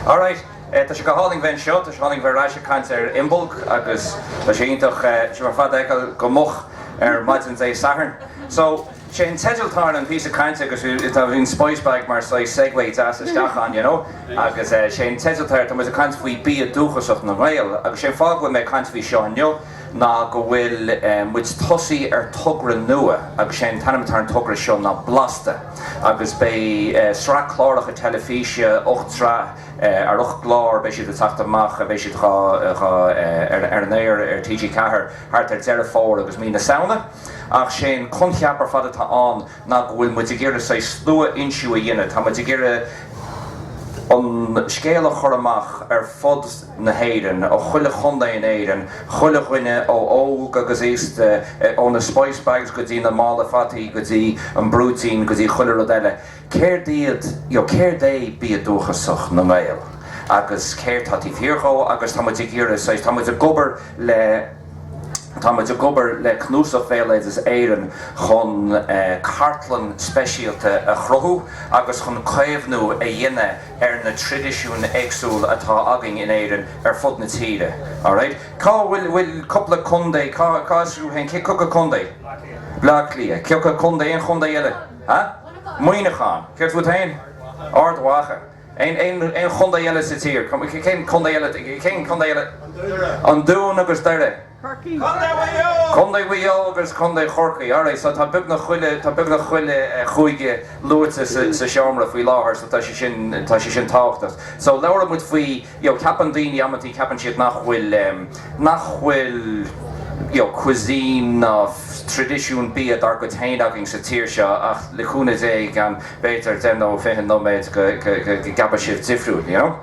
All right. Tá sé go hálainn a bheith anseo, tá sé hálainn a bheith ar ais ag caint ar Imbolg agus tá sé iontach, sibh ar fad a fheiceáil go moch ar maidin Dé Sathairn. So, sé an teideal atá ar an píosa cainte agus tá an spice bag mar saghas segue deas isteach ann, you know? Agus sé an teideal atá air, tá muid ag caint faoi bia dúchasach na nGael agus sé an fáth go bhfuil mé ag caint faoi seo inniu, ná go bhfuil muid ag tosaí ar togra nua agus sé an t-ainm atá ar an togra seo ná Blasta agus beidh sraith cláracha teilifíse, ocht sraith ar ocht gclár, beidh siad ag teacht amach, beidh siad ar an aer ar TG4 thart ar Deireadh Fómhair agus Mí na Samhna. Ach sé an coincheap ar fad atá ann. ná go bhfuil muid ag iarraidh saghas sluafhoinsiú a dhéanamh, tá muid ag iarraidh an scéal a chur amach ar fud na hÉireann, ó chuile chontae in Éirinn, chuile dhuine ó óg agus aosta, ó na spice bags go dtí na málaí fataí go dtí an brúitín go dtí chuile rud eile. Céard iad, ó céard é bia dúchasach na nGael agus céard tá taobh thiar dhó agus tá muid ag iarraidh saghas, tá muid ag obair le, Tá muid ag obair le Cnuasach Bhéaloideas Éireann chun cartlann speisialta a chruthú agus chun caomhnú a dhéanamh ar na traidisiúin éagsúla atá againn in Éirinn ar fud na tíre. Alright. Cá bhfuil, bhfuil cúpla contae, cá, cá as thú féin, cé, cé acu contae? Baile Átha Cliath. Cé acu contae, aon chontae eile? Huh? Muineachán. Céard fút féin? Ard Mhacha. aon chontae eile sa tír, cén contae eile, cén contae eile? An Dún agus Doire, Contae Mhaigh Eo agus Contae Chorcaí. Alright, so tá beagnach chuile, tá beagnach chuile chúige luaite sa seomra faoi láthair, so tá sé sin, tá sé sin tábhachtach. So labhraímid faoi. you know ceapann daoine amantaí ceapann siad nach bhfuil nach bhfuil you know cuisine ná traidisiún bia dár gcuid féin againn sa tír seo ach le cúnamh Dé i gceann b'fhéidir deich nó fiche nóiméad go go go go gceapfaidh sibh difriúil you know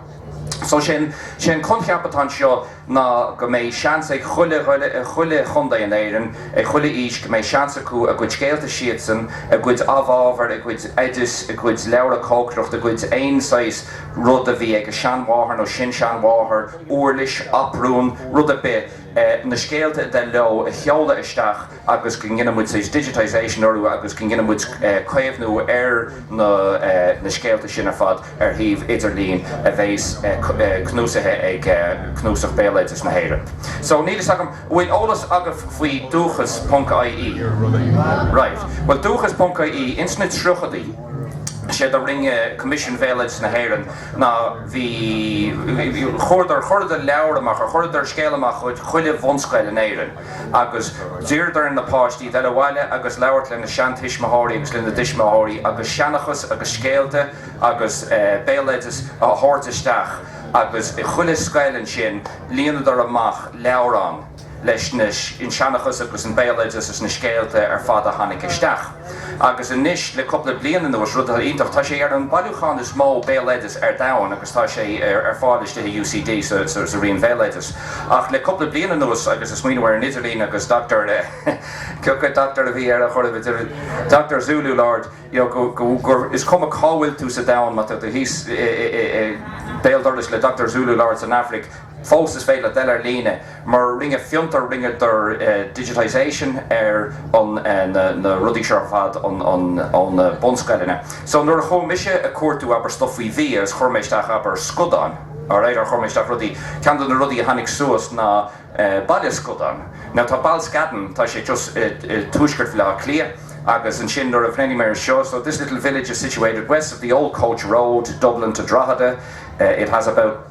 so sin sin an coincheap atá anseo ná go mbeidh seans ag chuile dhuine i chuile chontae in Éirinn ag chuile aois go mbeidh seans acu a gcuid scéalta siadsan a gcuid amhábhar a gcuid oideas a gcuid leabhra cócaireachta a gcuid aon saghas rud a bhí ag a seanmháthair nó sin-seanmháthair, uirlis, aprún, rud ar bith, na scéalta a dtig leo a sheoladh isteach agus go ndéanfaidh muid, saghas, digitisation orthu agus go ndéanfaidh muid caomhnú ar na scéalta sin ar fad ar shuíomh idirlín a bheas cnuasaithe ag Cnuasach Bhéaloideas na hÉireann. So, níl a fhios agam, an bhfuil eolas agaibh faoi Dúchas ponc IE? Right. Bhuel, Dúchas ponc IE, ins na tríochaidí. Is éard a rinne Coimisiún Bhéaloideas na hÉireann ná bhí, chuardar, chuireadar leabhar amach, or chuireadar scéal amach chuig chuile bhunscoil in Éirinn agus d'iarradar ar na páistí dul abhaile agus labhairt lena seantuismitheoirí agus lena dtuismitheoirí agus seanchas agus scéalta agus béaloideas a thabhairt isteach agus chuile scoil ansin líonadar amach leabhrán leis an seanchas agus an béaloideas is na scéalta ar fad a tháinig isteach. Agus anois, le cúpla bliain anuas, rud atá iontach, tá sé ar an bailiúchán is mó béaloideas ar domhan agus tá sé ar fáil istigh i UCD sa roinn béaloideas. Ach le cúpla bliain anuas, agus ag smaoineamh ar an idirlíon agus Doctor, cioca Doctor a bhí air a chur in idir Doctor Zulu Lord, you know, is cuma cá bhfuil tú sa domhan, má tá tú thíos i, i, i, i, béal dorais le Doctor Zulu Lord san Afraic, Fós is féidir leat dul ar líne mar rinne Fiontar rinneadar digitisation ar na rudaí seo ar fad ó na bunscoileanna. So nuair a chuaigh mise ag cuartú abair stuff faoi bhia agus chuir mé isteach abair scadáin, alright or chuir mé isteach rudaí, ceann de na rudaí a tháinig suas ná Baile Scadán. Now tá Balscadden tá sé just i tuaisceart Bhaile Átha Cliath agus ansin nuair a bhreathnaigh mé ar seo so this little village is situated west of the old coach road Dublin to Drogheda it has about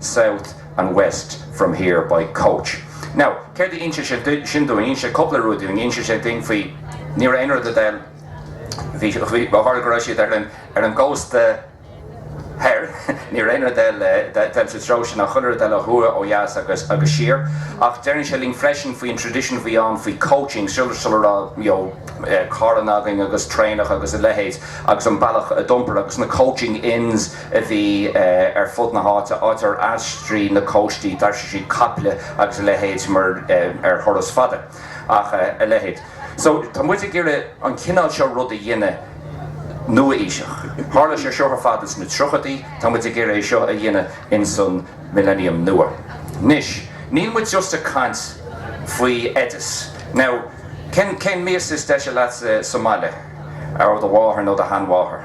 south and west from here by coach. Now, céard a insíonn sé sin dúinn? Insíonn sé cúpla rud dúinn. Insíonn sé dúinn faoi, ní raibh aon rud ag dul, bhí, bhí, mar tharla go raibh siad ar an, ar an gcósta thoir, ní raibh aon rud ag dul, ag dul sa treo sin ach chuile rud ag dul ó thuaidh, ó dheas agus, agus siar. Ach deireann sé linn freisin faoin tradition a bhí ann faoi coaching, sula, sula raibh, you know, carranna againn agus traenacha agus a leithéid agus an bealach a d'iompar agus na coaching inns, a bhí ar fud na háite, áit ar aistríodh na cóistí, d'aistrigh siad caiple agus a leithéid mar ar thuras fada ach a leithéid. So, tá muid ag iarraidh an cineál seo rud a dhéanamh nua-aoiseach. Tharla sé seo ar fad ins na tríochaidí, tá muid ag iarraidh é seo a dhéanamh ins an Millennium nua. Anois, níl muid just ag caint faoi oideas. Now, cén mias is deise leatsa sa mbaile? Ó do mháthair nó do sheanmháthair?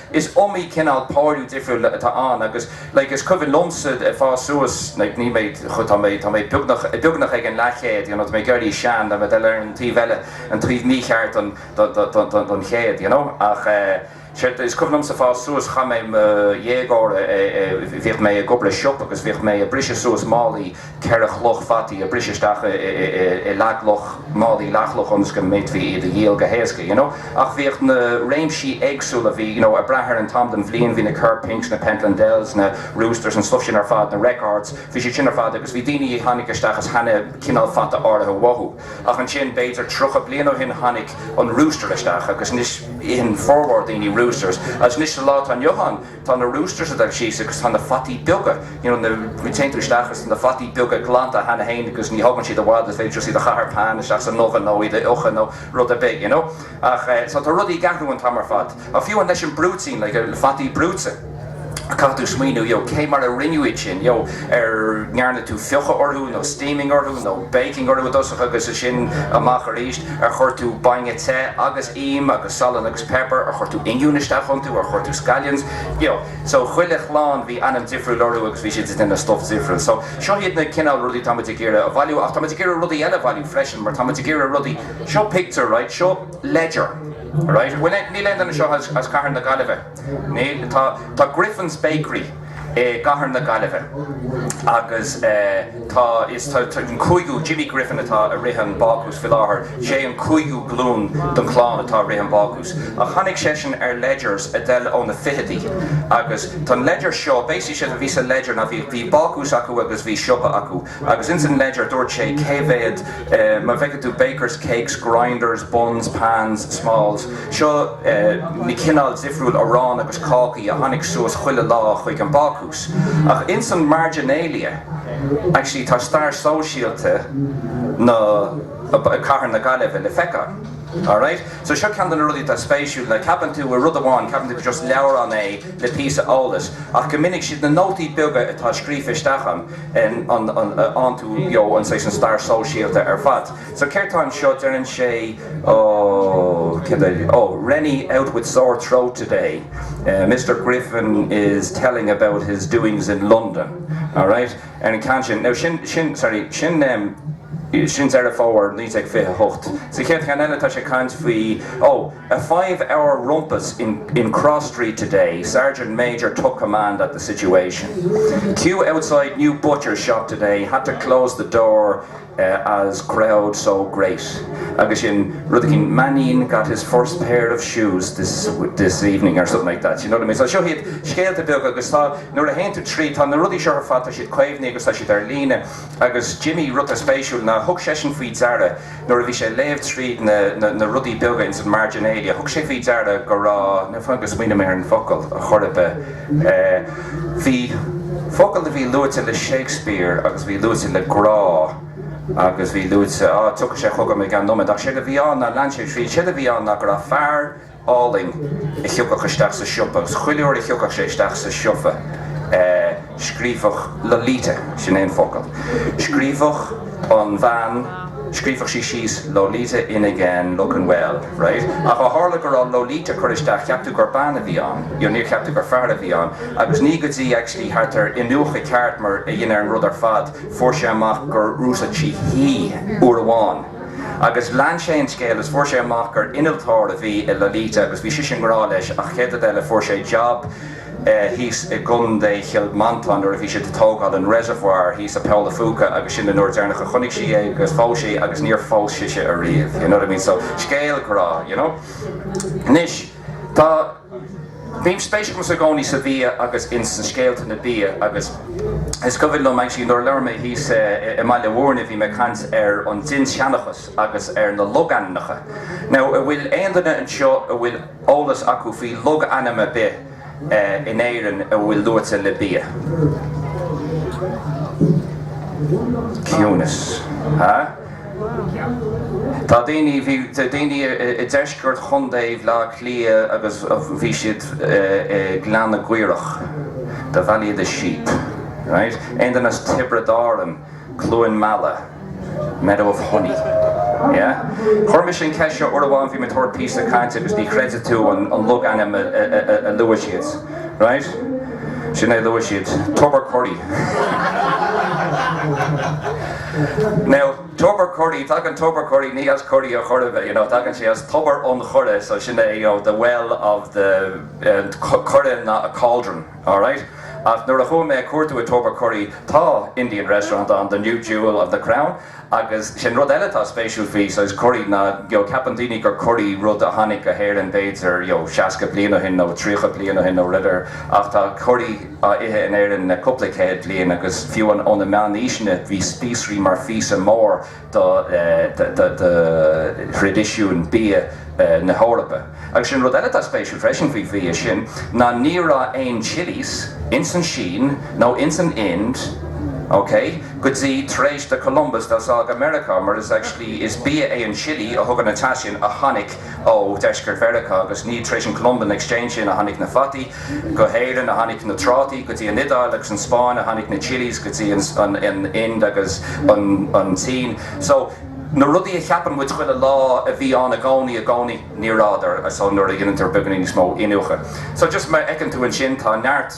Is iomaí cineál páiriú difriúil atá ann agus like is cuimhin liomsa ag fás suas like níl mé chomh tá mé tá mé beagnach beagnach ag an leathchéad you know tá mé ag éirí sean tá mé ar an taobh eile an taobh mícheart den den den chéad you know ach is cuimhin liomsa fás suas chaith mé mo dhéagóir bhíodh mé ag obair i siopa agus bhíodh mé ag briseadh suas málaí ceithre chloch fataí a briseadh isteach i leathchloch, málaí leathchloch ionas go mb'fhéadfaí iad a dhíol go héasca, you know. Ach bhíodh na réimsí éagsúla, bhí, you know, ag brath ar an t-am den bhliain, bhí na Kerr Pinks, na Pentland Dells, na Roosters, an stuff sin ar fad, na Records, bhí siad sin ar fad agus bhí daoine a tháinig isteach is cheannaigh cineál fata áirithe uathu. Ach ansin, b'fhéidir tríocha bliain ó shin, tháinig an Rooster isteach agus anois itheann formhór daoine Roosters. Agus anois sa lá atá inniu ann, tá na roosters ag dul síos agus tá na fataí beaga, you know, na, go dtéann tú isteach agus tá na fataí beaga glanta cheana féin agus ní thógann siad i bhfad, is féidir iad a chaitheamh ar pan isteach san oven nó iad a fhiuchadh nó rud ar bith, you know. Ach eh, so tá rudaí ag athrú an t-am ar fad. Ach fiú amháin leis an brúitín, like, eh, fataí brúite, caithfidh tú smaoineamh, you know, cé mar a rinneadh iad sin, you know, ar ndearna tú fiuchadh orthu nó steaming orthu nó baking orthu i dtosach agus ansin amach arís, ar chuir tú bainne te agus. im agus salann agus pepper ar chuir tú oingiún isteach iontu ar chuir tú scallions you know so chuile chlann bhí ainm difriúil orthu agus bhí siad ag déanamh stuff difriúil so seo iad na cineál rudaí tá muid ag iarraidh a bhailiú ach tá muid ag iarraidh rudaí eile a bhailiú freisin mar tá muid ag iarraidh rudaí seo pictiúr right seo ledger right bhuel níl aon duine anseo as cathair na Gaillimhe Tá Griffin's Bakery i gcathair na Gaillimhe agus tá an cúigiú, Jimmy Griffin atá ag rith an bácús faoi láthair, is é an cúigiú glún den chlann atá ag rith an bácús. Ach tháinig seisean ar Ledgers ag dul ó na fichidí agus tá an Ledger seo, basically séard a bhí sa Ledger ná bhí bácús acu agus bhí siopa acu. Agus ins an Ledger dúirt sé, cé mhéad, má bhfeiceann tú bakers, cakes, grinders, buns, pans, smalls, seo na cineáil dhifriúil arán agus cácaí a tháinig suas chuile lá chuig an bácús. Ach ins an marginalia, actually tá stair sóisialta na, cathair na Gaillimhe le feiceáil. Alright? So seo ceann de na rudaí atá spéisiúil, ná ceapann tú rud amháin, ceapann tú gur just leabhrán é le píosa eolais, ach go minic siad na nótaí beaga atá scríofa isteach ann, iontu léiríonn sé sin stair sóisialta ar fad so céard tá anseo deireann sé ó céard é ó Rennie out with sore throat today mister Griffin is telling about his doings in London alright ar an ceann sin now sin sin sorry sin em sin Deireadh Fómhair 1928 sa chéad cheann eile tá sé caint faoi ó A five-hour rumpus in in Cross Street today, Sergeant Major took command at the situation. Queue outside new butcher shop today, had to close the door as crowd so great. Agus sin, rud eicínt, Mannion got his first pair of shoes this this evening or something like that, you know what I mean? So seo iad scéalta beaga agus tá, nuair a théann tú tríd, tá na rudaí seo ar fad, tá siad caomhnaithe agus tá siad ar líne. Agus Jimmy, rud an-spéisiúil ná, thug seisean faoi deara, nuair a bhí sé ag léamh tríd na rudaí beaga ins an marginalia, thug sé faoi deara go raibh, fan go smaoineoidh mé ar an bhfocal ar chor ar bith, bhí focal a bhí luaite le Shakespeare agus a bhí luaite le grá agus bhí luaite, á, tiocfaidh sé chugam i gceann nóiméad, ach séard a bhí ann, ná lean sé tríd, séard a bhí ann ná go raibh fear, álainn a thiocfadh isteach sa siopa, agus chuile uair a thiocfadh sé isteach sa siopa, scríobhadh Lolita, sin é an focal, scríobhadh an bhean, scríobhadh sí síos Lolita in again, looking well, right? Ach ó tharla go raibh Lolita curtha isteach, cheap tú gur bean a bhí ann, you know, níor cheap tú gur fear a bhí ann, agus ní go dtí, actually, thart ar iniúchadh ceart mar a dhéanamh ar an rud ar fad, fuair sé amach gur úsáid sí he uair amháin. Agus lean sé an scéal is fuair sé amach gur innealtóir a bhí i Lolita agus bhí sise i ngrá leis ach an chéad rud eile fuair sé jab thíos i gContae Chill Mhantáin nuair a bhí siad ag tógáil an reservoir thíos i bPoll an Phúca agus sin an uair deireanach a chonaic sí é agus phós sé agus níor phós sise ariamh you know what I mean so scéal grá you know anois tá Bhím spéisiúil i gcónaí sa bhia agus ins na scéalta na bia agus is cuimhin liom actually nuair a labhair mé thíos i mBaile Mhúirne bhí mé ag caint ar an dinnseanchas agus ar na logainmneacha. Now a' bhfuil aon duine anseo a bhfuil eolas acu faoi logainm ar bith in Éirinn a bhfuil luaite le bia? Ciúnas. Huh? Tá daoine, bhí daoine i ndeisceart Chontae Bhleá Cliath agus bhí siad i nGleann na gCaorach, the valley of the sheep, right? Aon duine as Tiobraid Árann, Cluain Meala, meadow of honey, yeah? Chuir mise an cheist seo uair amháin, bhí mé ag tabhairt píosa cainte agus ní chreidfidh tú an logainm a luaigh siad, right? Sin é a luaigh siad, Tubbercurry. Now, Tubbercurry, tagann Tubbercurry ní as curry ar chor ar bith, you know, tagann sé as Tobar an Choire, so sin é, you know, the well of the, eh, coire ná a cauldron, all right? Ach nuair a chuaigh mé ag cuartú i Tubbercurry, tá Indian restaurant ann, the New Jewel of the Crown, agus sin rud eile atá spéisiúil, faoi curry ná, you know, ceapann daoine gur curry rud a tháinig go hÉirinn b'fhéidir, you know, seasca bliain ó shin nó tríocha bliain ó shin nó whatever ach tá curry, á ithe in Éirinn le cúpla céad bliain agus fiú ó na meánaoiseanna bhí spíosraí mar phíosa mór de thraidisiún bia na hEorpa. Agus sin rud eile atá spéisiúil freisin faoi bhia sin ná ní raibh aon chilis ins an Sín nó ins an Ind, ok, go dtí tar éis do Columbus dul sall go Meiriceá mar is actually is bia é an chili a thugann an teas sin a tháinig ó dheisceart Mheiriceá agus ní tar éis an Columbian exchange sin a tháinig na fataí Go hÉirinn, a tháinig na trátaí, go dtí an Iodáil agus an Spáinn a tháinig na chilis, go dtí an Ind agus an tSín. So, na rudaí a cheapann muid chuile lá a bhí ann i gcónaí i gcónaí, ní rabhadar. So, nuair a dhéantar beagainín níos mó iniúchadh. So, just mar a fheiceann tú ansin, tá neart,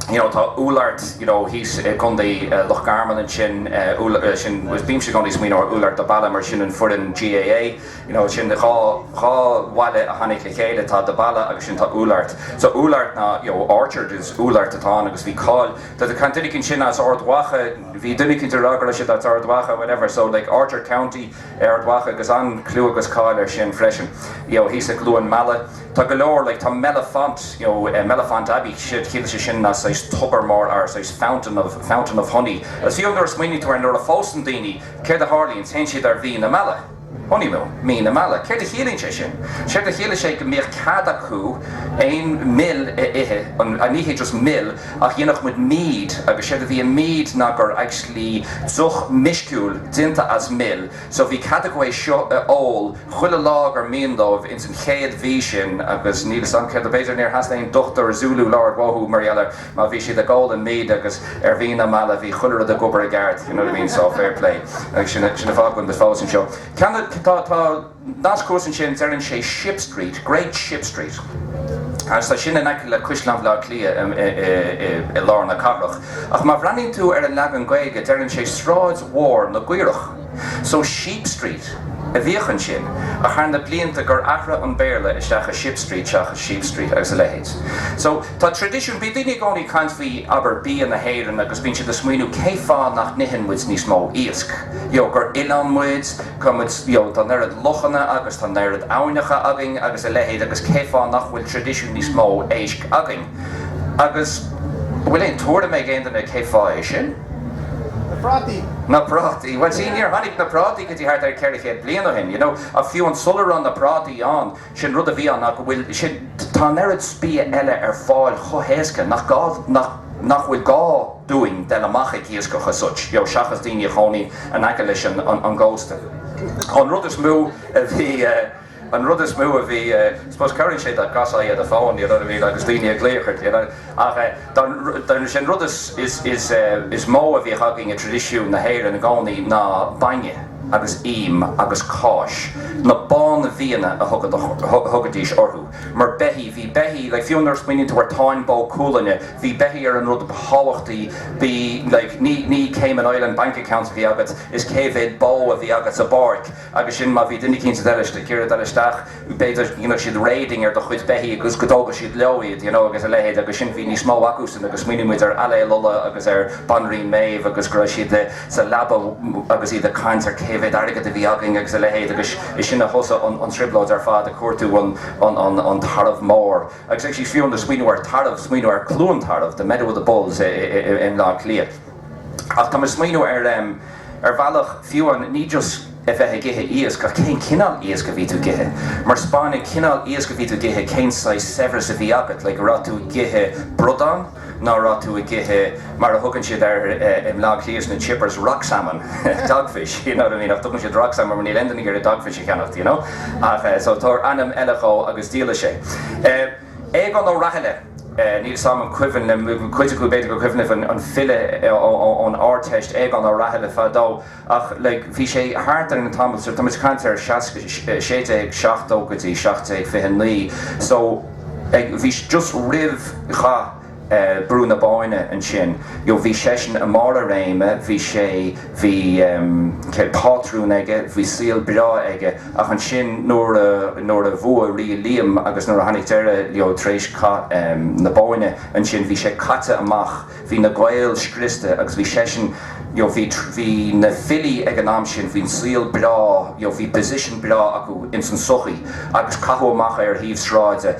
you know, tá úllort, you know, thíos i gContae Loch Garman ansin, úll, sin, bímse i gcónaí ag smaoineamh ar Oulart the Ballagh mar sin an foireann GAA. you know sin dhá dhá bhaile a tháinig le chéile, tá The Ballagh agus sin tá Oulart. So Oulart ná, you know, orchard is Oulart atá ann agus bhí cáil, tá do chaint duine eicínt sin as Ard Mhacha, bhí duine eicínt a rá go raibh siad as Ard Mhacha, whatever, so like Orchard County é Ard Mhacha agus an-chlú agus cáil air sin freisin. You know, thíos i gCluain Meala, tá go leor, like tá Mellifont, you know, Mellifont Abbey, séard a chiallaíonn sé sin ná saghas tobar mór or saghas fountain of, fountain of honey. Is fiú nuair a smaoiníonn tú ar nuair a phósann daoine, céard a tharlaíonns, théann siad ar mhí na meala. Honeymoon, mí na meala. Céard a chiallaíonn sé sin? Séard a chiallaíonn sé go mbíodh cead acu aon mhil a ithe, an, ní hé just mil ach dhéanadh muid mead agus séard a bhí i mead ná gur actually deoch meisciúil déanta as mil so bhí cead acu é seo a ól chuile lá gur mhian dóibh ins an chéad mhí sin agus níl 'fhios a'm céard a b'fhéidir níor theastaigh aon dochtúir Zulu labhairt uathu mar gheall ar Má bhí siad ag ól an mead agus ar mhí na meala bhí chuile rud ag obair i gceart, you know what I mean, so fair play. Agus sin an fáth go bhfuil muid fós anseo. Ceann de, tá, tá nasc thuas ansin, deireann sé Ship Street, Great Ship Street. Agus tá sin in aice le Caisleán Bhleá Cliath i, i, i, i, i lár na cathrach. Ach má bhreathnaíonn tú ar an leagan Gaeilge deireann sé Sráid Mhór na gCaorach. So Sheep Street a bhíodh ansin ach thar na blianta gur athraigh an Béarla isteach i Ship Street seachas Sheep Street agus a leithéid. So tá traidisiún, bíonn daoine i gcónaí ag caint faoi, abair, bia na hÉireann agus bíonn siad ag smaoineamh cé fáth nach n-itheann muid níos mó iasc, you know, gur oileán muid, tá muid, you know, tá an oiread lochanna agus tá an oiread abhainneacha againn agus a leithéid agus cé fáth nach bhfuil traidisiún níos mó éisc againn agus an bhfuil aon tuairim ag aon duine cé fáth é sin? Na prátaí! Na prátaí! Bhuel, see, níor tháinig na prátaí go dtí thart ar ceithre chéad bliain ó shin, you know, ach fiú an sular raibh na prátaí ann, sin rud a bhí ann ná go bhfuil, sin, tá an oiread bia eile ar fáil chomh héasca nach gá, nach, nach bhfuil gá dúinn a dhul amach ag iascach as such, you know, seachas daoine a chónaíonn in aice leis an, an, an gcósta. An rud is mó a bhí, eh, An rud is mó a bhí, suppose cabhraíonn sé dá gcasfainn as an fón, you know what I mean, agus daoine ag glaoch ort, you know. Ach dar ndóigh an rud is mó a bhíodh againn i dtraidisiún na hÉireann i gcónaí ná bainne agus im agus cáis, na bánbhianna a thugaidís orthu, mar beithígh, bhí beithígh, like fiú nuair a smaoiníonn tú ar Táin Bó Cúailnge, bhí beithígh ar an rud ba thábhachtaí, bhí like, ní Cayman Island bank accounts a bhí agat, is cé mhéad bó a bhí agat sa bpáirc. Agus sin, má bhí duine éicínt ag dul, ag iarraidh dul isteach, b'fhéidir go ndéanfadh siad raiding ar do chuid beithígh agus go dtógfadh siad leo iad, you know, agus a leithéid. Agus sin, bhí níos mó acusan agus smaoinigh muid ar Ailill Uladh agus ar Banríon Méabh agus go raibh siad sa leaba agus iad ag caint ar cé mhéad airgead a bhí againn agus a leithéid agus is sin a thosaigh an trioblóid ar fad ag cuartú an tarbh mór. Agus actually, fiú amháin ag smaoineamh ar tarbh, smaoineamh ar Cluain Tarbh, the meadow of the bulls i mBleá Cliath. Ach tá mé ag smaoineamh ar, em, ar bhealach, fiú amháin, ní just a bheith ag ithe iasc ach cén cineál iasc a bhí tú ag ithe. Mar spáineann cineál iasc a bhí tú ag ithe cén saghas saibhreas a bhí agat, like, a' raibh tú ag ithe bradán ná a' raibh tú ag ithe, mar a thugann siad ar, eh, i mBleá Cliath sna chippers, rock salmon, dogfish, you know what I mean, ach tugann siad rock salmon mar níl aon duine ag iarraidh dogfish a cheannacht, you know. Ach eh, so tabhair ainm eile dhó agus díolfaidh sé. Eh. Aogán Ó Rathaille, níl fhios a'm an cuimhin le cuid acu, b'fhéidir gur cuimhin libh an file ón Ardteist, Aogán Ó Rathaille fadó ach like bhí sé thart ar an tamall seo, tá muid ag caint ar seasca, sé déag seachtó go dtí seacht déag fiche naoi so like bhí just roimh chath. Brú na Bóinne ansin. You know, bhí seisean i mbarr a réime, bhí sé, bhí, em, céard, pátrún aige, bhí saol breá aige, ach ansin nuair a, nuair a bhuaigh Rí Liam agus nuair a tháinig deireadh leo tar éis cath, em, na Bóinne ansin, bhí sé caite amach, bhí na Gaeil scriosta agus bhí seisean, you know, bhí, bhí na filí ag an am sin, bhí an saol breá, you know, bhí position breá acu ins an sochaí agus caitheadh amach é ar thaobh sráide.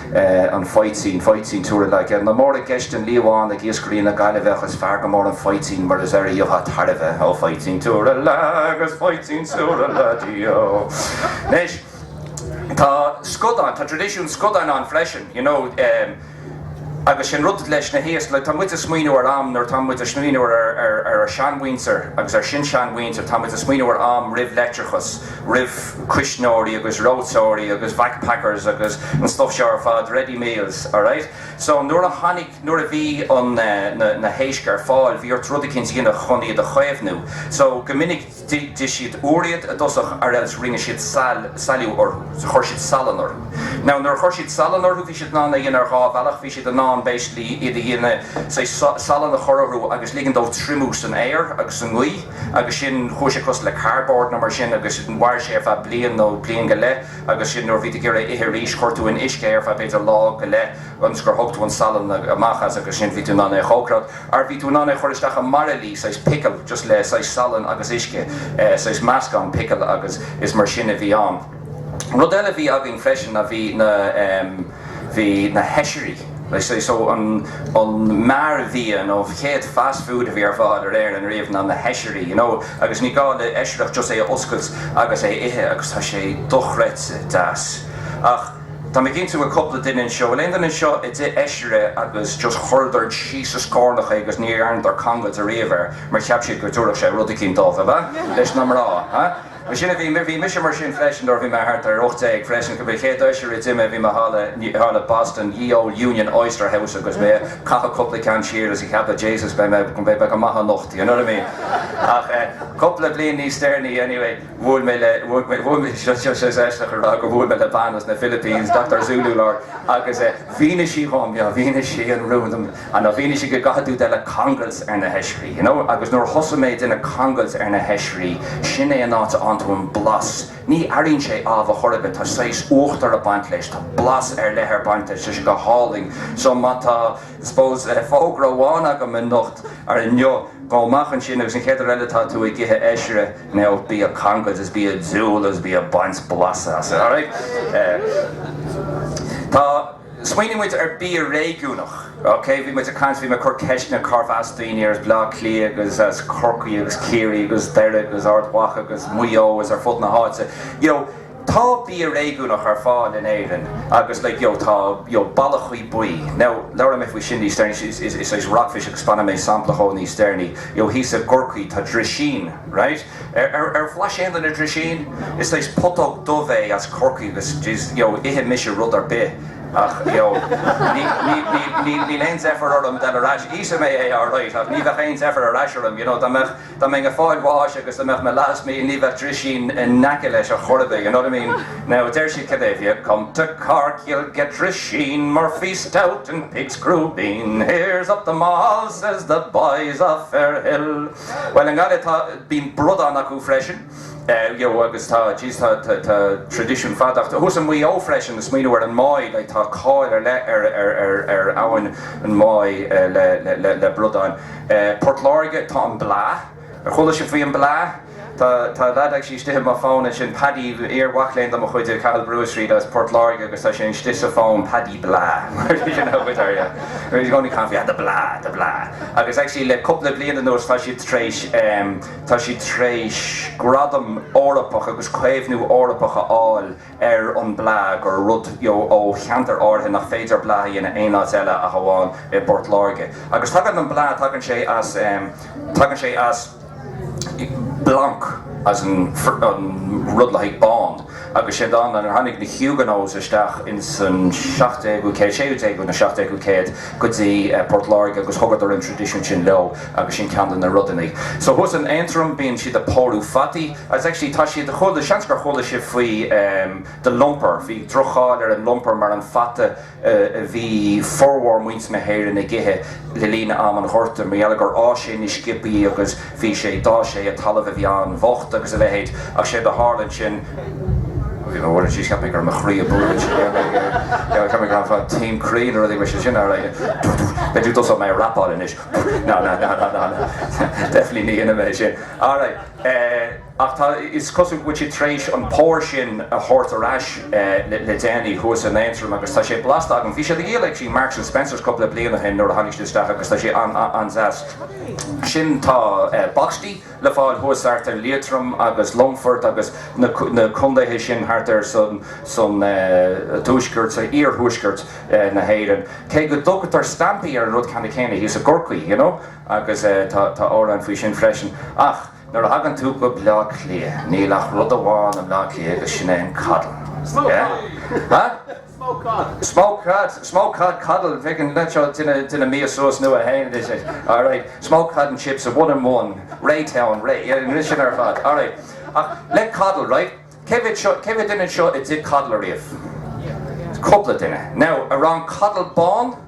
an faoitín, faoitín túra lé. Nach mór i gceist an liamhán ag iascairí na Gaillimhe ach is fearr go mór an faoitín mar is air a gheobhthá tairbhe. Ó faoitín túra lé agus faoitín túra lé díó. Anois, tá scadáin, tá traidisiún scadán ann freisin, you know, em, agus sé'n rud leis na héisc, like, tá muid a' smaoiniú ar am nuair atá muid a' smaoiniú ar, ar, ar ár sean-mhuintir agus ár sin-sean-mhuintir, tá muid a' smaoiniú ar am roimh leictreachas, roimh. cuisneoirí agus reoiteoirí agus vac packers agus an stuff seo ar fad, ready meals, alright. So nuair a tháinig, nuair a bhí an, na, na héisc ar fáil, bhí ort rud eicínt a dhéanamh chun iad a chaomhnú. So go minic d'ith, d'ith siad úr iad i dtosach or else rinne siad sail, sailiú orthu, so chuir siad salann orthu. Now nuair a chuir siad salann orthu bhí siad in ann é a dhéanamh ar dhá bhealach, bhí siad in ann basically iad a dhéanamh, say, salann a chur orthu agus ligean dóibh triomú san aer agus sa ngaoth, agus sin chuaigh sé cosúil le cardboard nó mar sin agus mhair sé ar feadh bliain nó bliain go leith agus sin nuair a bhí tú ag iarraidh é a ithe arís chuir tú in uisce é ar feadh b'fhéidir lá go leith ionas gur thóg tú an salann amach as agus sin bhí tú in ann é a chócaireacht or bhí tú in ann é a chur isteach i mbairillí saghas pickle just le saghas salann agus uisce saghas meascán pickle agus is mar sin a bhí ann. Rud eile a bhí againn freisin ná bhí na, bhí na hoisrí, so an mearbhia nó an chéad fast food a bhí ar fáil in Éirinn riamh ná na hoisrí you know agus ní gá le oisre ach just é a oscailt agus é a ithe agus tá sé dochreidte deas ach tá mé cinnte go bhfuil cúpla duine anseo, bhfuil aon duine anseo a d'ith oisre agus just chuireadar síos sa scornach é agus ní dhearnadar cangailt ariamh air mar cheap siad go dtabharfadh sé rud eicínt dóibh, ab ea? leis na mná, huh? Ansin a bhí, bhí mise mar sin freisin, nuair a bhí mé thart ar ocht déag freisin, bhí chéad oisre a d'ith mé, bhí mé thall i, thall i Boston, Ye Olde Union Oyster House agus mé ag caitheadh cúpla ceann siar agus ag ceapadh Jesus beidh mé, beidh mé go maith anocht, you know what I mean. Ach eh cúpla bliain níos deireanaí anyway bhuail mé le, bhuail mé, bhuail mé, seo, seo, seo, is aisteach a rá gur bhuail mé le bean as na Philippines, Doctor Zululard, agus eh mhínigh sí dhom, yeah, mhínigh sí an rún dom, An, a, mhínigh sí go gcaithfidh tú déanamh cangailt ar na hoisrí, you know, agus nuair a thosaigh mé ag déanamh cangailt ar na hoisrí, sin é an áit a bhfaigheann tú an blas, ní airínn sé ámh a chor ar bith, tá saghas uachtar a' baint leis, tá blas ar leith ag baint leis, tá sé go hálainn. So má tá, suppose, fógra amháin agam anocht, or inniu, gabh amach ansin agus an chéad uair eile tá tú ag ithe oisre, now bí a' cangailt is bí a' diúl agus bí a' baint blasa as, alright? Eh. Tá. Smaoinigh muid ar bhia réigiúnach, ok? Bhí muid ag caint, bhí mé ag cur ceisteanna, cárbh as daoine as Bleá Cliath agus as Corcaigh agus Ciarraí agus Doire agus Ard Mhacha agus Maigh Eo agus ar fud na háite, you know? Tá bia réigiúnach ar fáil in Éirinn agus like, you know, tá, you know, ballachaí buí. Now, labhróidh mé faoi sin níos deireanaí, is, is, is, is rockfish agus spáinfidh mé sampla dhaoibh níos deireanaí. You know, thíos i gCorcaigh, tá drisín, right? Ar bhlais aon duine drisín? Is saghas putóg dubh é as Corcaigh agus ithim-se rud ar bith ach níl aon deifir orm dhul ar ais. Íosfaidh mé é alright ach ní bheadh aon deifir ar ais orm, you know, dá mbeadh, dá mbeinn ag fáil bháis agus dá mbeadh mo last meal ní bheadh drisín in aice leis ar chor ar bith, you know what I mean. Now deir siad cad é if you come to Cork you'll get drisín, Murphy stout and pig's crubeen, here's up them all says the boys of Fairhill. Bhuel, i nGaillimh, tá, bíonn bradán acu freisin, you know, agus tá, jeez, tá, tá, tá traidisiún fada acu, thuas i Maigh Eo freisin, ag smaoineamh ar an Muaidh, like, tá cáil ar leith ar, ar, ar, ar abhainn an Mhuaidh le, le, le, le bradáin. Eh, Port Láirge, tá an blaa, ar chuala sibh faoi an blaa? Tá tá lead, actually, istigh i mo phone ansin, Paddy, iar mhac léinn de mo chuid i Cathal Brugha Street as Port Láirge agus tá sé istigh sa phone, Paddy blaa, mar you know with her yeah, he's only calling for yeah the blaa, the blaa agus actually le cúpla bliain anuas tá siad tréis ehm, tá siad tréis gradam Eorpach agus caomhnú Eorpach a fháil ar an blaa gur rud you know ó cheantar áirithe nach féidir blaa a dhéanamh aon áit eile ach amháin i bPort Láirge agus tagann an blaa tagann sé as ehm, tagann sé as. Blanc as an rud le haghaidh bán agus sé an dán, nuair a tháinig na Huguenots isteach ins an 17ú céad, 16ú nó 17ú céad, go dtí Port Láirge agus thugadar an traidisiún sin leo agus sin ceann de na rudaí. So thuas in Aontroim bíonn siad a' pórú fataí. Agus actually tá siad, chuala, seans gur chuala sibh faoi The Lumper, bhí droch-cháil ar an Lumper mar an fata a bhí formhór muintir na hÉireann ag ithe le linn ama an Ghorta, mar gheall gur fhás sé ina sciopaí agus bhí sé d'fhás sé i dtalamh a bhí an-bhocht agus a leithéid. Ach séard a tharla ansin. Ach tá, is cosúil go bhfuil siad tar éis an pór sin a thabhairt ar ais le déanaí, thuas in Aontroim, agus tá sé blasta agam. Bhí siad á dhíol ag Marks and Spencers cupla bliain ó shin nuair a tháinig siad isteach agus tá sé an-deas. Ansin tá bacstaí le fáil thuas thart ar Liatrom agus Longfort agus na condaetha sin thart ar san tuaisceart, san iarthuaisceart na hÉireann. Cé go dtugtar steaimpí ar an rud ceannann céanna thíos i gCorcaigh, you know, agus tá amhrán faoi sin freisin. Ach. Nuair a thagann tú go Bleá Cliath níl ach rud amháin i mBleá Cliath agus sin é an coddle. Smoke cod. Huh? Smoke cod. Smoke cod. Smoke cod coddle. Bheadh an leaid seo ag déanamh mias nua dó féin. Alright. Smoke cod and chips, a one and one. Ray town. Ray. Yeah, rith sin ar fad. Alright. Ach le coddle, right? Cé mhéad seo, cé mhéad duine anseo a d'ith coddle ariamh? Cúpla duine. Now, an raibh an coddle bán?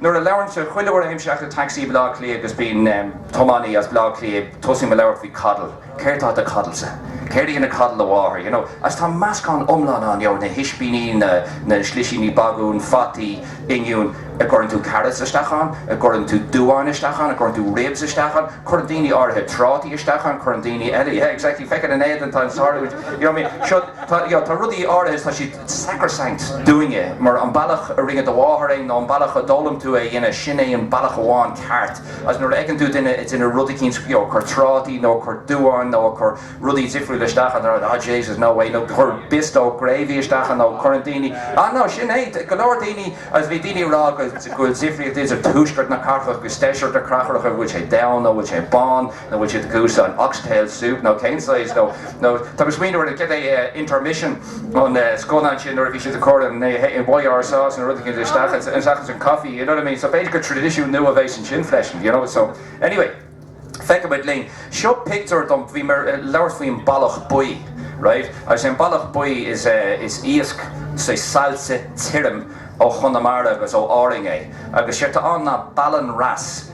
Nuair a labhraimse, chuile uair a théim isteach i dtacsaí i mBleá Cliath agus bíonn tiománaí as Bleá Cliath, tosaím a labhairt faoi coddle. Céard atá i do choddle-sa? Céard a bhí i gcoddle do mháthair? You know? Agus tá meascán iomlán ann, you know, na hispíní, na, na slisíní bagúin, fataí, oinniúin. a' gcuireann tú carrots isteach ann? a' gcuireann tú duáin isteach ann? a' gcuireann tú ribs isteach ann? Cuireann daoine áirithe trátaí isteach ann, cuireann daoine eile, yeah, exactly, feicim an éadan atá ort ansiúd, you know what I mean? Seo, tá, you know, tá rudaí áirithe, tá siad, sacrosanct, dúinne, mar an bealach a rinne do mháthair é nó an bealach a d'fhoghlaim tú é a dhéanamh, sin é an bealach amháin ceart. Agus nuair a fheiceann tú duine ag déanamh rud eicínt, you know, ag cur trátaí nó ag cur duáin nó ag cur rudaí difriúla isteach ann, they're like, oh, Jesus, no way, nó ag cur bisto gravy isteach ann nó cuireann daoine, ah, no, sin é, go leor daoine, agus bhí daoine ag rá go bhfuil difríocht idir tuaisceart na cathrach agus deisceart na cathrach, a bhfuil sé donn nó a bhfuil sé bán. An bhfuil siad ag cur an oxtail soup nó cén saghas nó nó tá mé smaoineamh ar cad é intermission an scannán sin nuair a bhí siad a chur an YR sauce nó rud éigin isteach ann seachas an coffee you know what I mean so b'fhéidir gur tradition nua a bheidh san sin freisin you know so anyway feicfimid linn seo pictiúr díom bhí mé ag labhairt faoin ballach buí right agus an ballach buí is is iasc saillte tirim ó Chonamara agus ó Árainn é agus sé tá ann ná ballan wrasse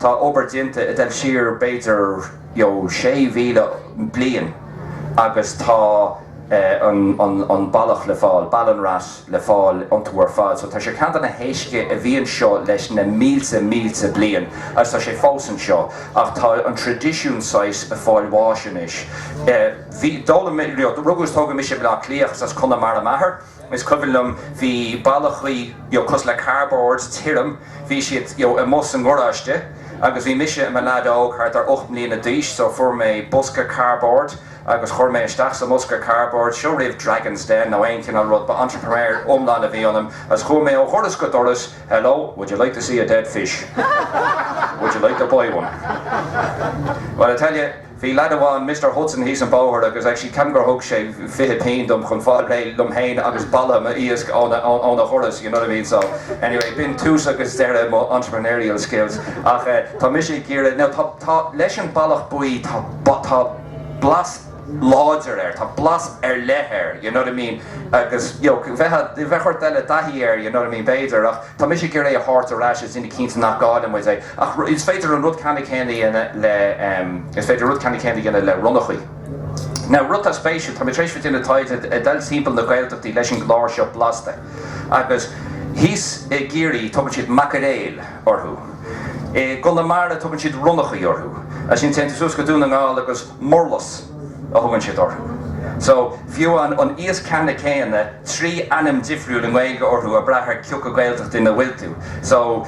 Tá obair déanta ag dul siar b'fhéidir 6,000 bliain agus tá an ballach le fáil, ballan wrasse le fáil iontu ar fad. So tá sé ceann de na héisc a bhí anseo leis na mílte mílte bliain agus tá sé fós anseo ach tá an tradisiún saghas ag fáil bháis anois. Bhí, d'fhoghlaim, rugadh is tógadh mise i mBleá Cliath agus as Conamara m'athair. Is cuimhin liom, bhí ballachaí, you know, cosúil le cardboard, tirim, bhí siad, you know, amuigh sa ngaráiste agus bhí mise i mo lead óg, thart ar ocht mbliana d'aois, so fuair mé bosca cardboard agus chuir mé isteach sa mbosca cardboard, seo roimh Dragons' Den nó aon chineál rud, ba entrepreneur iomlán a bhí ionam agus chuaigh mé ó dhoras go doras, hello, would you like to see a dead fish? Would you like to buy one? Bhuel, I tell you. Bhí lead amháin, Mister Hudson, thíos an bóthar agus actually ceapaim gur thug sé fiche pingin dom chun fáil réidh liom féin agus boladh an iasc óna dhoras, you know what I mean. So, anyway, b'in tús agus deireadh mo entrepreneurial skills. Ach tá mise ag iarraidh, now tá, tá, leis an ballach buí, tá, tá blas láidir air, tá blas ar leith air, you know what I mean, agus, you know, bheadh, bheadh ort dul i dtaithí air, you know what I mean, b'fhéidir, ach. Tá mise ag iarraidh é a thabhairt ar ais, is a dhéanamh cinnte nach gcaillfidh muid é. Ach is féidir an rud ceannann céanna a dhéanamh le, is féidir rud ceannann céanna a dhéanamh le ronnachaí. Now, rud atá spéisiúil, tá mé tar éis a bheith ag déanamh taighde ag dul timpeall na Gaeltachtaí leis an gclár seo Blasta agus thíos i gCiarraí tugann siad macairéil orthu. I gConamara tugann siad ronnachaí orthu. As sin téann tú suas go Dún na nGall agus murlas. a thugann siad orthu. So, fiú an an iasc ceannann céanna, trí ainm difriúil i nGaeilge orthu ag brath ar cioca Gaeltacht ina bhfuil tú. So,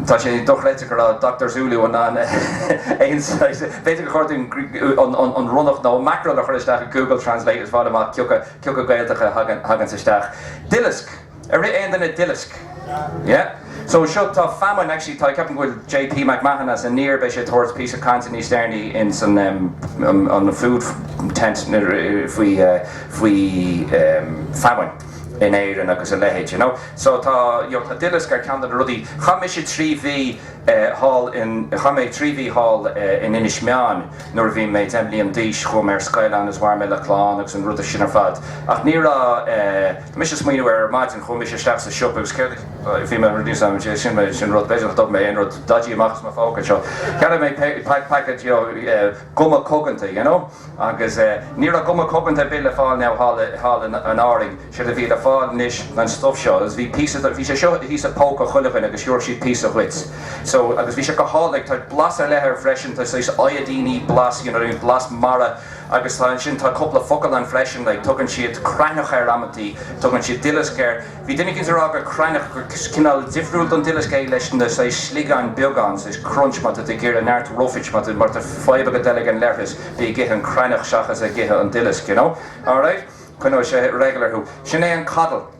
tá sé dochreidte go raibh Doctor Zulu in ann aon saghas, b'fhéidir gur chóir dúinn an ronnach nó mackerel a chur isteach i Google Translate agus fáil amach cioca, cioca Gaeltacht a thaganns isteach. Duileasc. Ar ith aon duine duileasc. Yeah. So seo tá famine, actually tá, ceapaim go bhfuil JP McMahon as Aniar, beidh sé ag tabhairt píosa cainte níos deireanaí ins an an food tent faoi faoi famine in Éirinn agus a leithéid, you know. So tá, you know, tá duileasc ar ceann de na rudaí. Chaith mise trí mhí thall in, chaith mé trí mhí thall in Inis Meáin nuair a bhí mé deich mbliain d'aois, chuaigh mé ar scoil ann agus mhair mé le clann agus an rud sin ar fad ach ní raibh mise ag smaoineamh ar maidin, chuaigh mise isteach sa siopa agus céard a bhí mé a rith síos ann, sin mé, sin rud, b'fhéidir nach dtug mé aon rud dodgy amach as mo phóca anseo, cheannaigh mé packet you know guma coganta you know agus ní raibh guma coganta ar bith le fáil now thall i, thall in, in Árainn, séard a bhí le fáil anois ná an stuff seo agus bhí píosa de, bhí sé seo thíos i póca chuile dhuine agus thiúrfadh siad píosa dhuit so agus bhí sé go hálainn, tá blas ar leith air freisin, tá saghas iodine blas you know what I mean blas mara. Agus tá, ansin, tá cúpla focal ann freisin, like, tugann siad creathnach air amantaí, tugann siad duileasc air. Bhí duine éicint ag rá gur creathnach, gur cineál difriúil don duileasc é leis na, saghas, sliogáin beaga ann, saghas crunch, má tá tú ag iarraidh neart roughage, má tá, má tá fadhb agat ag dul ag an leithreas, bí ag ithe an creathnach seachas ag ithe an duileasc, you know. Alright? Coinneoidh sé regular thú. Sin é an coddle.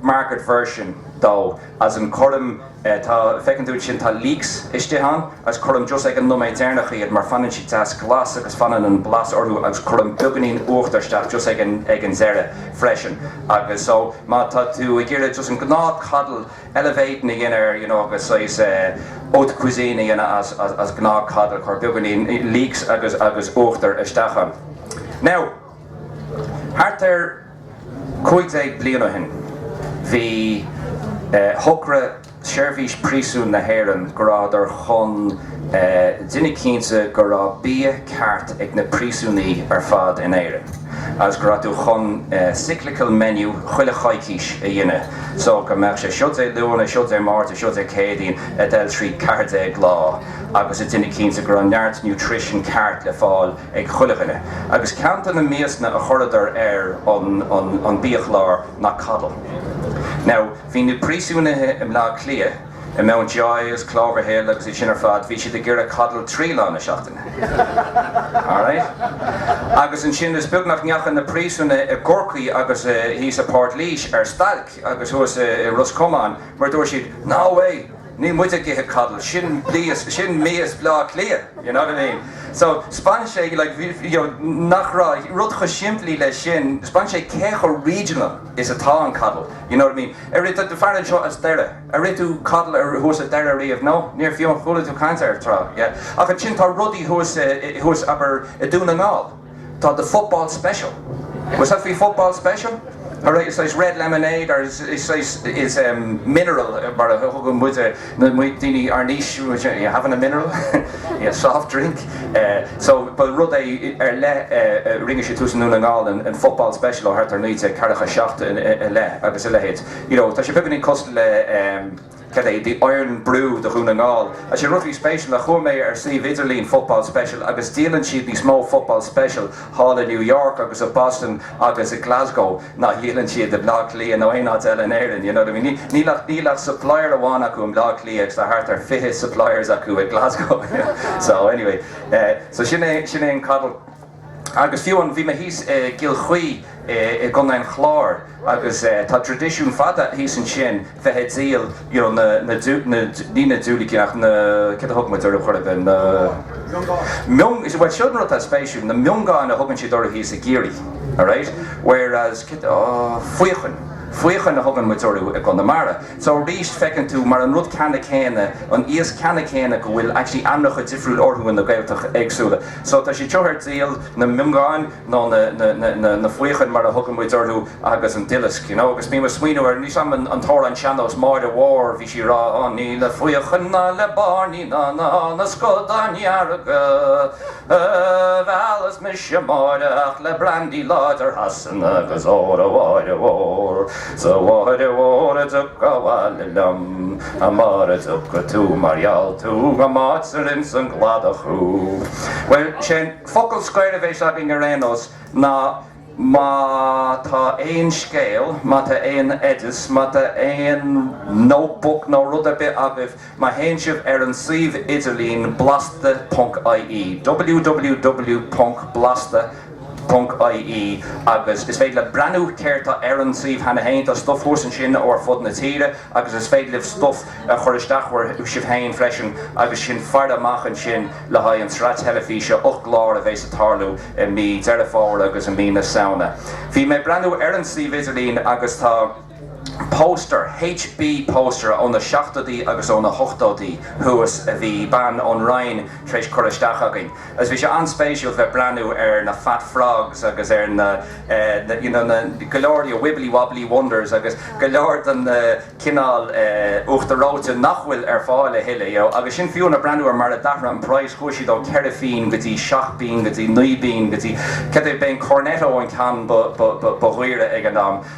market version, though, as in cuirim, tá, feiceann tú iad sin, tá leeks istigh ann agus cuirim just ag an nóiméad deireanach iad mar fanann siad deas glas agus fanann an blas orthu agus cuirim beagáinín uachtar isteach just ag an, ag an deireadh freisin agus so má tá tú ag iarraidh just an gnáth coddle elevating a dhéanamh air you know agus saghas haute cuisine a dhéanamh as, as, as gnáth coddle cuir beagáinín leeks agus, agus uachtar isteach ann. Now. Thart ar 15 bliain ó shin, shocraigh Seirbhís Príosún na hÉireann go rabhadar chun déanamh cinnte go raibh bia ceart ag na príosúnaí ar fad in Éirinn agus go raibh tú chun cyclical menu chuile choicís a dhéanamh so go mbeadh sé seo Dé Luain, seo Dé Máirt, seo Dé Céadaoin, ag dul trí 14 lá agus ag déanamh cinnte go raibh neart nutrition ceart le fáil ag chuile dhuine, agus ceann de na miasanna a chuireadar ar an biachlár ná coddle. Now, bhí na príosúnaithe i mBleá Cliath, i Mountjoy is Cloverhill agus iad sin ar fad, bhí siad ag iarraidh coddle trí lá na seachtaine. Alright? Agus ansin, is beag nach ndeachaigh na príosúnaithe i gCorcaigh agus thíos i bPort Laoise ar stailc agus thuas i Ros Comáin mar dúirt siad, No way! Níl muid ag ithe coddle, sin mias, sin mias Bhleá Cliath, you know what I mean. So span sé like you know nach raibh rud chomh simplí leis sin, spáin sé cé chomh regional is atá an coddle, you know what I mean. Ar ith tú fear anseo as Doire, ar ith tú coddle ar thuas i Doire riamh? No? Níor, fiú ar chuala tú caint air tráth, yeah. Ach ansin tá rudaí thuas i, thuas abair i Dún na nGall. Tá The Football Special. Ar bhlais tú an football special? Alright, is saghas red lemonade or is saghas, is em, mineral mar a thugann muid ar, na, muid, daoine ár n-aois, are you having a mineral? Yeah, soft drink. Eh, so, ba rud é ar leith a rinne siad thuas i nDún na nGall, an, an Football Special ó thart ar naoi déag ceathracha seacht a, a, a leith nó a leithéid. You know, tá sé beagáinín cosúil le, em, Cad é 'The Irn-Bru' do Dhún na nGall? 'Sé an rud atá spéisiúil. Chuaigh mé ar suíomh idirlín Football Special agus díolann siad níos mó Football Special thall i New York agus i Boston agus i Glasgow ná a dhíolann siad i mBleá Cliath nó aon áit eile in Éirinn, you know what I mean. Níl ach, níl ach supplier amháin acu i mBleá Cliath agus tá thart ar fiche suppliers acu i Glasgow, you know. So, anyway, eh, so sin é, sin é an coddle. Agus fiú an, bhí mé thíos i gCill Chaoi i gContae an Chláir agus tá tradisiún fada thíos ansin bheith a' díol you know na, na, na, ní hea na diúilicí ach na, céard a thugann muid orthu chor ar bith, na. Miongán. Miongán, bhuel sin an rud atá spéisiúil, na miongán a thugann siad orthu thíos i gCiarraí alright whereas, céard, oh faochain, faochain a thugann muid orthu i gConamara. So arís feiceann tú mar an rud ceanna céanna, an iasc ceanna céanna go bhfuil actually ainmneacha difriúil orthu i na Gaeltacht éagsúla. So tá siad seo ar díol, na miongáin nó na, na, na, na, na faochain mar a thugann muid orthu agus an duileasc, you know, agus bím a' smaoineamh ar, níl a fhios agam an, an t-amhrán sean-nós Máire Mhór bhí sí rá oh ní le faochain ná le bairnigh ná, ná, na scadáin dhearga a mheallas mise a Mháire ach le brandy láidir Shasana agus óra a Mháire Mhór. 'S a Mháire Mhór an dtiocfá abhaile liom, a Mháire, mara dtaga tú mar gheall tú go mbáitear insa gcladach thú. Bhuel, sé'n focal scoir a bhéas againn ar aon nós, ná má tá aon scéal, má tá aon oideas, má tá aon notebook nó rud ar bith agaibh, Má théann sibh ar an suíomh idirlín blasta ponc ie, ww ponc blasta ponc ie, agus is féidir libh breathnú céard tá ar an suíomh cheana féin. Tá stuif thuas ansin ó ar fud na tíre agus is féidir libh stuif a chur isteach ó sibh féin freisin agus sinn faire amach ansin le haghaidh an tsraith teilifíse 8 gclár a bhéas ag tarlú i mí Deireadh Fómhair agus i mí na Samhna. Bhí mé ag breathnú ar an suíomh idirlín agus tá. Póstaer, HB póstaer ó na seachtóidí agus ó na hochtóidí thuas a bhí bean ón Rinn tar éis cur isteach chugainn agus bhí sé an-spéisiúil bheith breathnú ar na fat frogs agus ar na you know na go leor you know wibbly wobbly wonders agus go leor de na cineál uachtar reoite nach bhfuil ar fáil a thuilleadh you know agus sin fiú ag breathnú ar mar a d'athraigh an price chuaigh siad ó ceithre phínn go dtí seacht bpínn go dtí naoi bpínn go dtí cad é ba é an Cornetto an ceann ba dhaoire ag an am